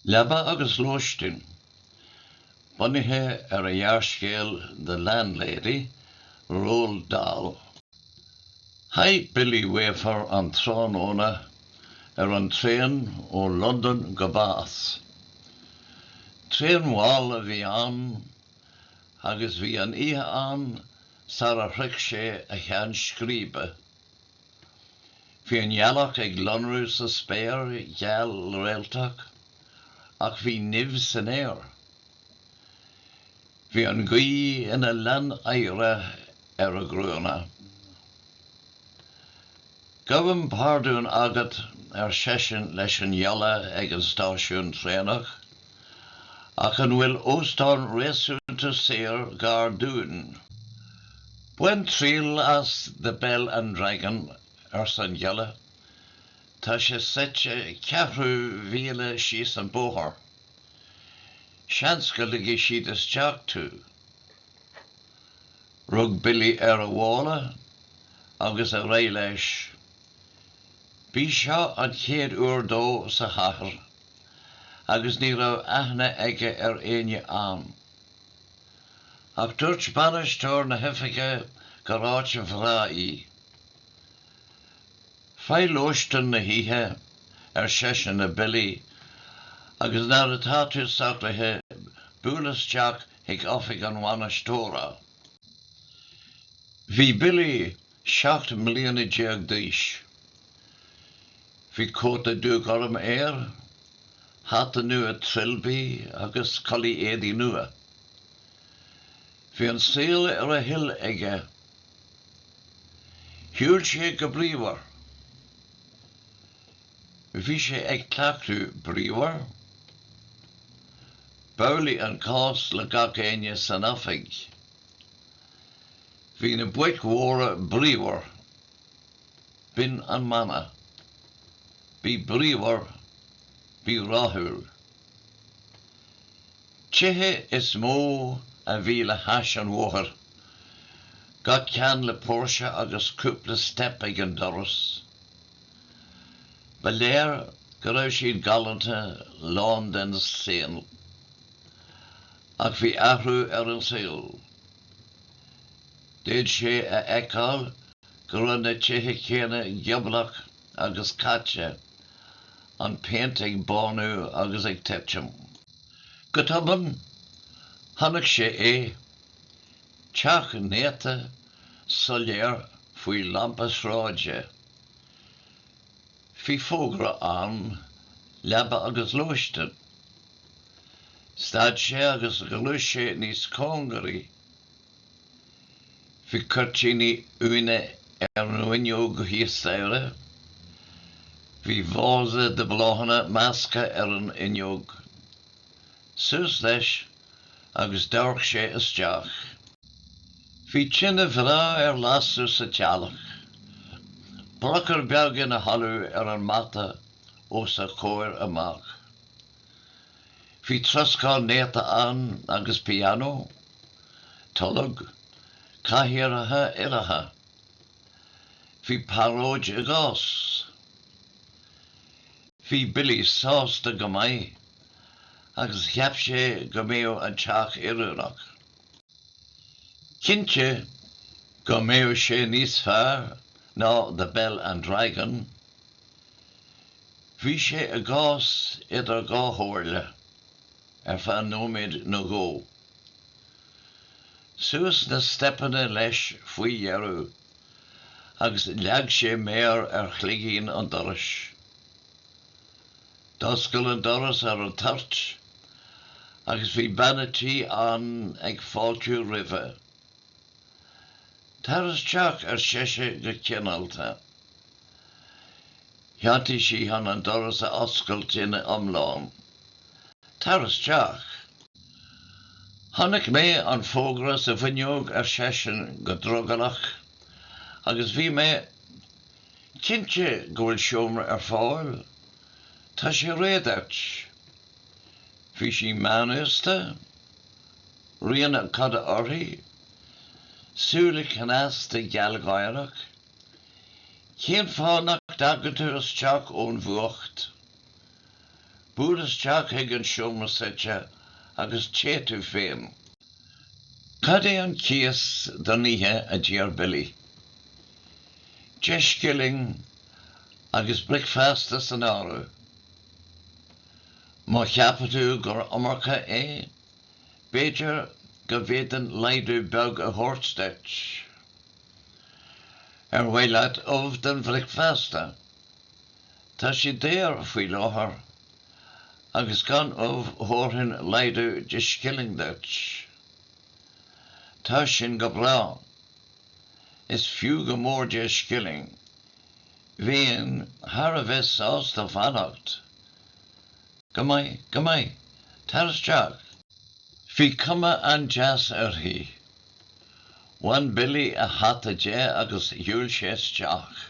Leaba agus Lóistin. Bunaithe ar an ghearrscéal The Landlady, Roald Dahl. Chaith Billy Weaver an tráthnóna ar an traein ó Londain go Bath. Traein mhall a bhí ann agus bhí an oíche ann sara shroich sé a cheann scríbe. Bhí an ghealach ag lonrú sa spéir gheal réaltach ach bhí nimh san aer. Bhí an ghaoth ina lann oighre ar a gruanna. Gabhaim pardún agat, ar seisean leis an ghiolla ag an stáisiún traenach, Ach an bhfuil óstán réasúnta saor gar dúinn? Bain triail as The Bell and Dragon, arsa an giolla. Tá sé suite ceathrú míle síos an bóthar. Seans go ligfidh siad isteach tú. Rug Billy ar a mhála agus ar aghaidh leis. B'í seo an chéad uair dó sa chathair. agus ní raibh aithne aige ar éinne ann. Ach dúirt bainisteoir na hoifige gur áit bhreá í. 'Faigh lóistin na hoíche, ar seisean le Billy, 'agus nuair atá tú socraithe buail isteach chuig oifig an bhainisteora. Bhí Billy seacht mbliana déag d'aois. Bhí cóta dúghorm air, hata nua trilbí agus culaith éadaigh nua. Bhí an saol ar a thoil aige. Shiúil sé go bríomhar. Bhí sé ag cleachtadh bríomhar. B'amhlaidh an cás le gach éinne san oifig. Bhí na boic mhóra bríomhar. B'in an mana. Bí bríomhar, bí rathúil. Tithe is mó a bhí le hais an bhóthair, gach ceann le póirse agus cúpla steip ag an doras. Ba léir go raibh siad galánta lá den saol. Ach bhí athrú ar an saol. D'fhéad sé a fheiceáil go raibh na tithe céanna gioblach agus caite, an phéint ag bánú agus ag titim. Go tobann, chonaic sé é, teach néata, soiléir, faoi lampa sráide. Bhí fógra ann, Leaba agus Lóistin. Stad sé agus ghluais sé níos cóngaraí. Bhí cuirtíní uaine ar an fhuinneog thíos staighre. Bhí vása de bhláthanna measctha ar an fhuinneog. Suas leis agus d'amharc sé isteach. Bhí tine bhreá ar lasadh sa teallach, brocaire beag ina chodladh ar an mata os a chomhair amach. Bhí troscán néata ann agus pianó, tolg, cathaoireacha uilleacha. Bhí pearóid i gcás. Bhí Billy sásta go maith. agus cheap sé go mbeadh an teach oiriúnach. Cinnte go mbeadh sé níos fearr ná The Bell and Dragon. Bhí sé i gcás idir dhá chomhairle ar feadh nóiméid nó dhó. Suas na steipeanna leis faoi dheireadh agus leag sé méar ar chloigín an dorais. D'oscail an doras ar an toirt agus bhí bean a' tí ann ag fáiltiú roimhe. 'Tar isteach, ar seise go cineálta. Chiontaigh sí chun an doras a oscailt ina iomláine. 'Tar isteach! 'Chonaic mé an fógra sa bhfuinneog, ar seisean go drogallach, 'agus bhí mé. cinnte go bhfuil seomra ar fáil, tá sé réidh duit. Bhí sí meánaosta, rian a coda uirthi, súile cneasta gealgháireach. Cén fáth nach dtagann tú isteach ón bhfuacht? Buail isteach chuig an seomra suite agus téigh tú féin. Cad é an cíos don oíche a d'iarr Billy? Deich scilling agus bricfeasta san áireamh. Má cheapann tú gur iomarca é, b'fhéidir go bhféadfainn laghdú beag a thabhairt duit. Ar mhaith leat ubh don bhricfeasta? Tá siad daor faoi láthair, agus gan ubh thabharfainn laghdú de scilling duit. Tá sin go breá. Is fiú go mór deich scilling. Bheinn thar a bheith sásta fanacht. Go maith, go maith. Tar isteach. Bhí cuma an-deas uirthi. Bhain Billy a hata de agus shiúil sé isteach.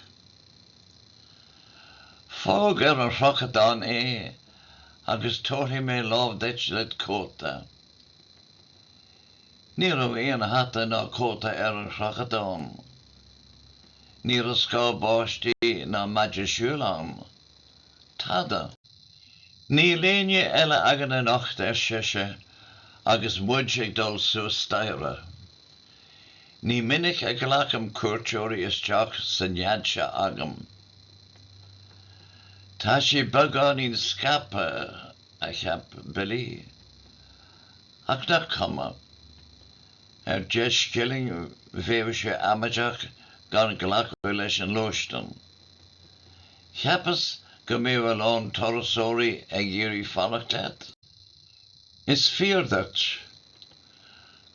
Fág ar an chrochadán é agus tabharfaidh mé lámh duit led' chóta. Ní raibh aon hata ná cóta ar an chrochadán. Ní raibh scáth báistí ná maide siúil ann. Tada. 'Níl éinne eile againn anocht, ar sise, agus muid ag dul suas staighre. Ní minic a ghlacaim cuairteoirí isteach sa nead seo agam. Tá sé beagáinín scaipthe, a cheap Billy, ach nach cuma. Ar deich scilling bheadh sé amaideach gan glacadh leis an lóistín. Cheapas go mbeadh a lán turasóirí ag iarraidh fanacht leat? Is fíor duit.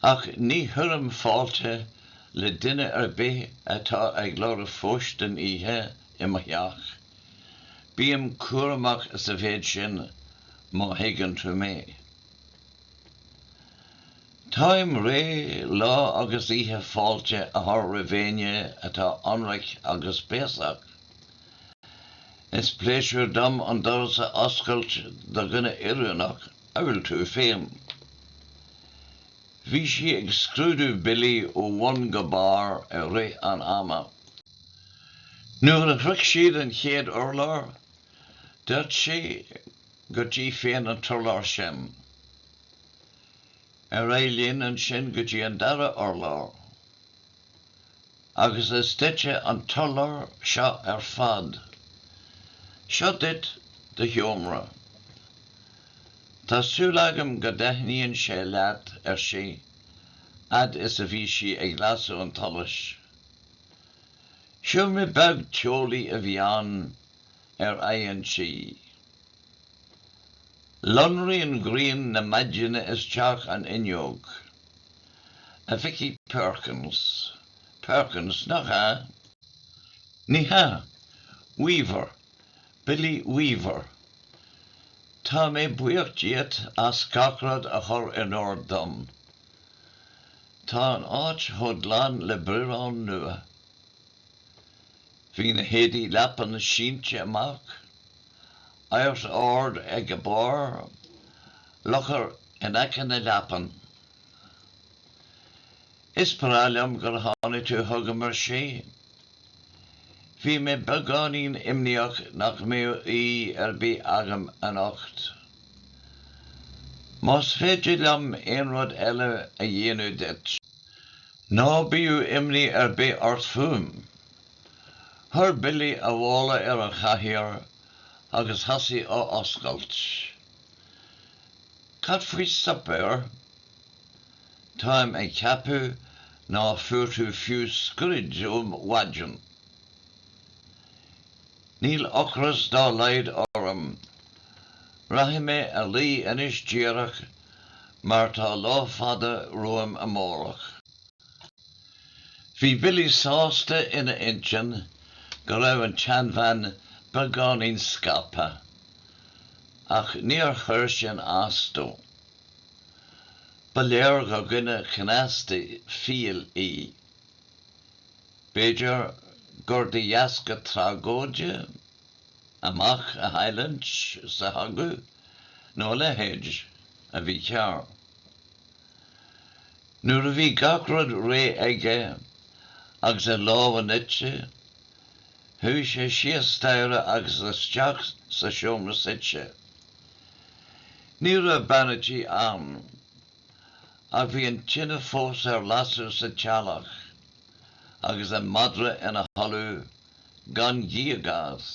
Ach ní chuirim fáilte le duine ar bith atá ag lorg lóistín oíche i mo theach. Bím cúramach sa mhéid sin, má thuigeann tú mé. Táim réidh lá agus oíche fáilte a chur roimh éinne atá ionraic agus béasach. Is pléisiúr dom an doras a oscailt do dhuine oiriúnach amhail tú féin. Bhí sí ag scrúdú Billy ó bhun go barr i rith an ama. Nuair a shroich siad an chéad urlár, dúirt sí, Go dtí féin an t-urlár sin. Ar aghaidh linn ansin go dtí an dara urlár. Agus is duitse an t-urlár seo ar fad. Seo duit do sheomra. Tá súil agam go dtaitníonn sé leat, ar sí, fhad is a bhí sí ag lasadh an tsolais. Seomra beag teolaí a bhí ann, ar aghaidh an tí. Lonraíonn grian na maidine isteach an fhuinneog. A mhic Uí Perkins, Perkins, nach ea? Ní hea, Weaver, Billy Weaver. Tá mé buíoch díot as gach rud a chur in ord dom. Tá an áit chomh glan le biorán nua. Bhí na héadaí leapan sínte amach Ardaigh ag a barr, locar in aice na leapan. Is breá liom gur tháinig tú chugam, ar sí. Bhí mé beagáinín imníoch nach mbeadh aoi ar bith agam anocht. Más féidir liom aon rud eile a dhéanamh duit. Ná bíodh imní ar bith ort fúm. Chuir Billy a mhála ar an chathaoir agus thosaigh á oscailt. Cad faoi suipéar? Táim ag ceapadh ná fuair tú fiú scroid ó mhaidin! Níl ocras dá laghad orm. Rachaidh mé a luí anois díreach mar tá lá fada romham amárach. Bhí Billy sásta ina intinn go raibh an tseanbhean beagáinín scaipthe, ach níor chuir sin as dó. Ba léir gur dhuine cneasta fial í. B'fhéidir gur de dheasca tragóide a mac a chailliúint sa chogadh nó a leithéid a bhí cearr. Nuair a bhí gach rud réidh aige agus a lámha nite, chuaigh sé síos staighre agus isteach sa seomra suite. Ní raibh bean a tí ann, ach bhí an tine fós ar lasadh sa teallach agus an madra ina chodladh gan gíog as.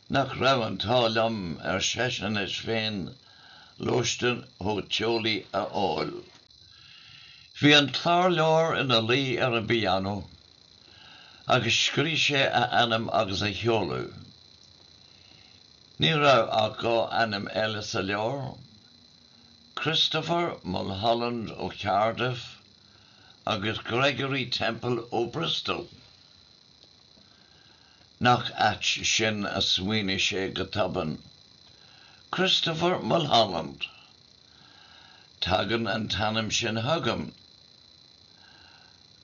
Nach raibh an t-ádh liom, ar seisean leis féin, lóistin chomh teolaí a fháil. Bhí an clárleabhar ina luí ar an bpianó agus scríobh sé a ainm agus a sheoladh. Ní raibh ach dhá ainm eile sa leabhar, Christopher Mulholland ó Cardiff agus Gregory Temple ó Bristol. Nach ait sin, a smaoinigh sé go tobann. Christopher Mulholland! Tagann an t-ainm sin chugam.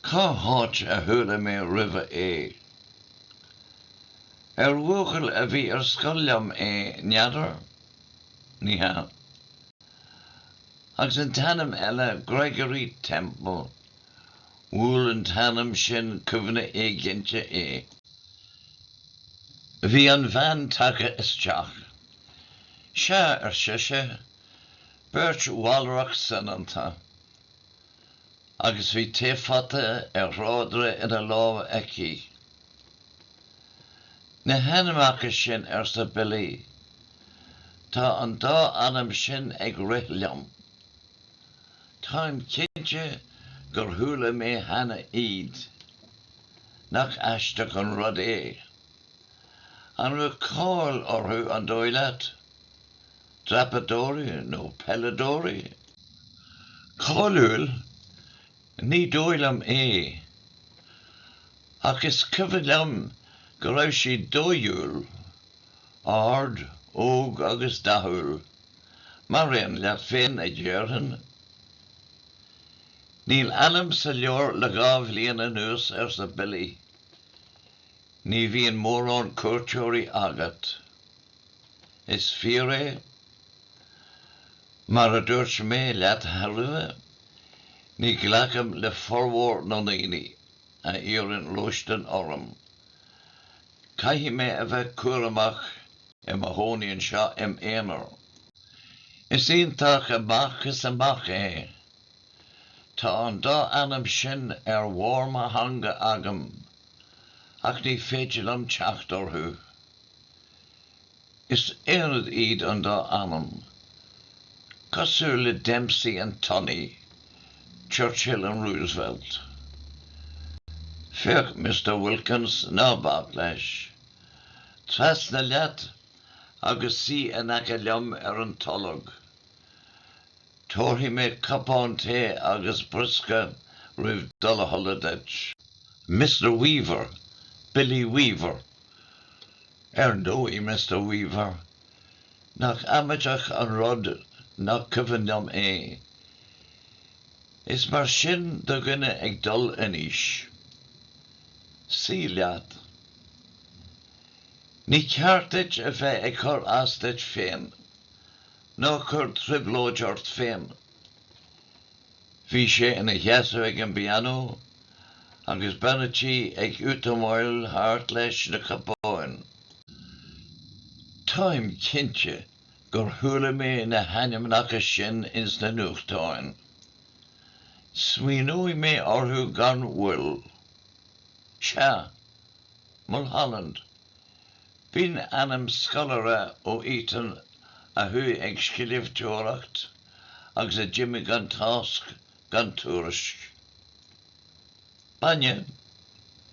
Cá háit a chuala mé roimhe é? Ar bhuachaill a bhí ar scoil liom é, n'fheadar? Ní hea. Agus an t-ainm eile, Gregory Temple, Bhuail an t-ainm sin cuimhne éiginnte é. Bhí an bhean tagtha isteach. Sea, ar sise, beirt mhalrach soineanta, agus bhí taephota ar thráidire ina lámh aici. Na hainmneacha sin, arsa Billy, tá an dá ainm sin ag rith liom. Táim cinnte gur chuala mé cheana iad. Nach aisteach an rud é? An raibh cáil orthu, an dóigh leat? Dreapadóirí nó peileadóirí? Cáiliúil? Ní dóigh liom é. Ach is cuimhin liom go raibh siad dóighiúil, ard, óg agus dathúil. Mar aon leat féin, a dhéarfainn. Níl ainm sa leabhar le dhá bhliain anuas, arsa Billy. Ní bhíonn mórán cuairteoirí agat. Is fíor é. Mar a dúirt mé leat roimhe, ní ghlacaim le formhór na ndaoine a iarrann lóistín orm. Caithfidh mé a bheith cúramach i mo chónaí anseo im' aonar. Is iontach amach is amach é. Tá an dá ainm sin ar bharr mo theanga agam, ach ní féidir liom teacht orthu. Is aonad iad an dá ainm, cosúil le Dempsey and Tunney, Churchill and Roosevelt. Féach, Mister Wilkins, ná bac leis. Trasna leat agus suí in aice liom ar an tolg. Tabharfaidh mé cupán tae agus briosca roimh dul a chodladh duit. Mister Weaver, Billy Weaver. Ar ndóigh, Mister Weaver, nach amaideach an rud nach cuimhin liom é. Is mar sin do dhuine ag dul in aois. Suí leat. Ní ceart duit a bheith ag cur as duit féin. Ná cuir trioblóid ort féin. Bhí sé ina sheasamh ag an bpianó agus bean a' tí ag útamáil thart leis na cupáin. Táim cinnte gur chuala mé na hainmneacha sin ins na nuachtáin. Smaoineoidh mé orthu gan mhoill. Sea. Mulholland. B'in ainm scoláire ó Eton a chuaigh ag scríobhteoireacht agus a d'imigh gan tásc gan tuairisc. Bainne?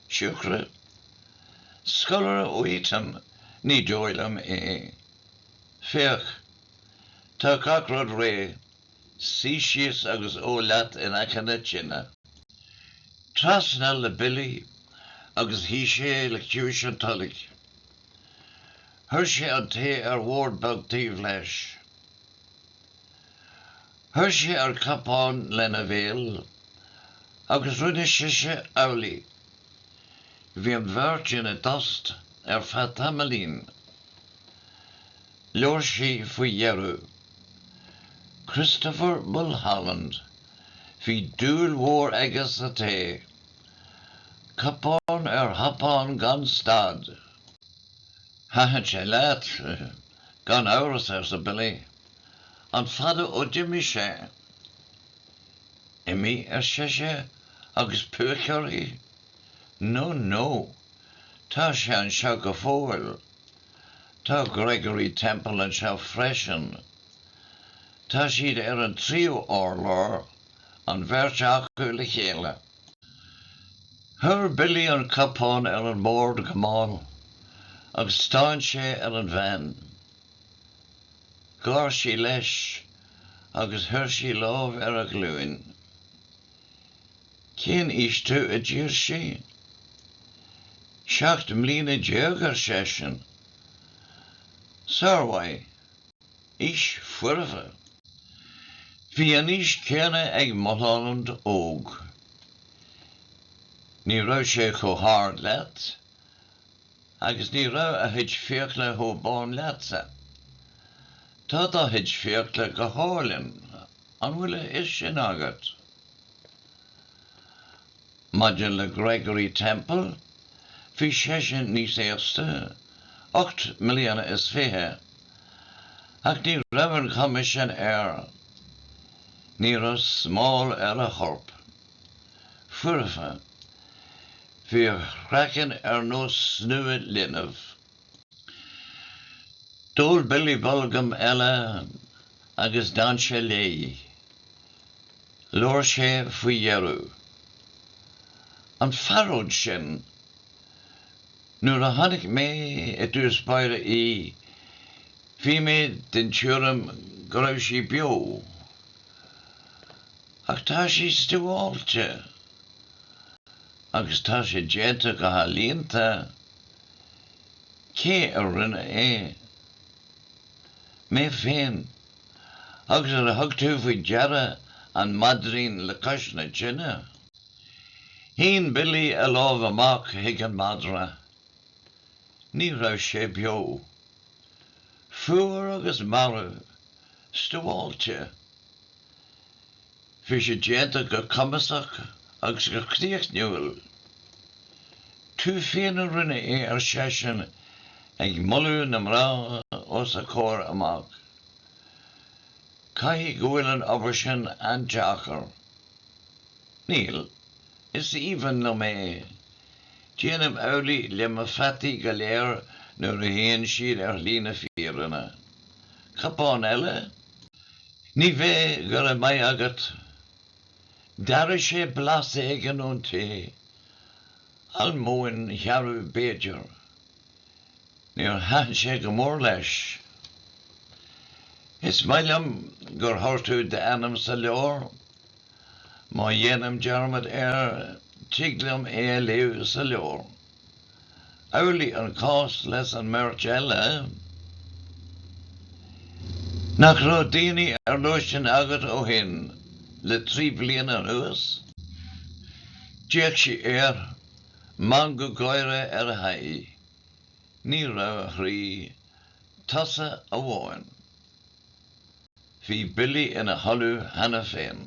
Siúcra? Scoláire ó Eton? Ní dóigh liom é. Féach. Tá gach rud réidh. Suigh síos agus ól leat in aice na tine. Trasna le Billy agus shuigh sé le ciumhais an toilg. Chuir sé an tae ar bhord beag taobh leis. Chuir sé an cupán lena bhéal agus rinne sise amhlaidh. Bhí an bheirt ina dtost ar feadh tamaillín. Labhair sí faoi dheireadh. Christopher Mulholland, bhí dúil mhór aige sa tae. Cupán ar chupán gan stad. Thaitin sé leat? Gan amhras, arsa Billy. An fada ó d'imigh sé? Imigh? ar sise agus púic uirthi. No, no. Tá sé anseo go fóill. Tá Gregory Temple anseo freisin. Tá siad ar an tríú urlár, an bheirt acu le chéile. Chuir Billy an cupán ar an mbord go mall agus stán sé ar an bhean. Gháir sí leis agus chuir sí lámh ar a ghlúin. Cén aois tú? a d'iarr sí. Seacht mbliana déag, ar seisean. Sármhaith. Aois foirfe. Bhí an aois chéanna ag Mulholland óg. Ní raibh sé chomh hard leat agus ní raibh a chuid fiacla chomh bán leatsa. Tá do chuid fiacla go hálainn, an bhfuil a fhios sin agat? Maidir le Gregory Temple, bhí seisean níos aosta, ocht mbliana is fiche, ach ní raibh an chuma sin air. Ní raibh smál ar a chorp. Foirfe. Bhí a chraiceann ar nós snua linbh. D'ól Billy bolgam eile agus d'fhan sé léi. Labhair sé faoi dheireadh. 'An phearóid sin, nuair a chonaic mé i dtús báire í, bhí mé den tuairim go raibh sí beo. Ach tá sí stuáilte. Agus tá sé déanta go healaíonta. Cé a rinne é? Mé féin. Agus ar thug tú faoi deara an maidrín le cois na tine? Shín Billy a lámh amach chuig an madra. Ní raibh sé beo. Fuar agus marbh. Stuáilte. Bhí sé déanta go cumasach agus go críochnúil. 'Tú féin a rinne é, ar seisean, ag moladh na mná os a comhair amach. 'Caithfidh go bhfuil an obair sin an-deacair. 'Níl. Is aoibhinn liom é. Déanaim amhlaidh le mo pheataí go léir nuair a théann siad ar shlí na fírinne. Cupán eile? Ní bheidh, go raibh maith agat. D'airigh sé blas éigin ón té, almóinn shearbh b'fhéidir. Níor thaitin sé go mór leis. Is maith liom gur chuir tú d'ainm sa leabhar. Má dhéanaim dearmad air, tig liom é a léamh sa leabhar. Amhlaidh an cás leis an mbeirt eile. Nach raibh daoine ar lóistín agat ó shin le trí bliana anuas? D'fhéach sí air, meangadh gáire ar a haghaidh. Ní raibh, a chroí. Tusa amháin. Bhí Billy ina chodladh cheana féin.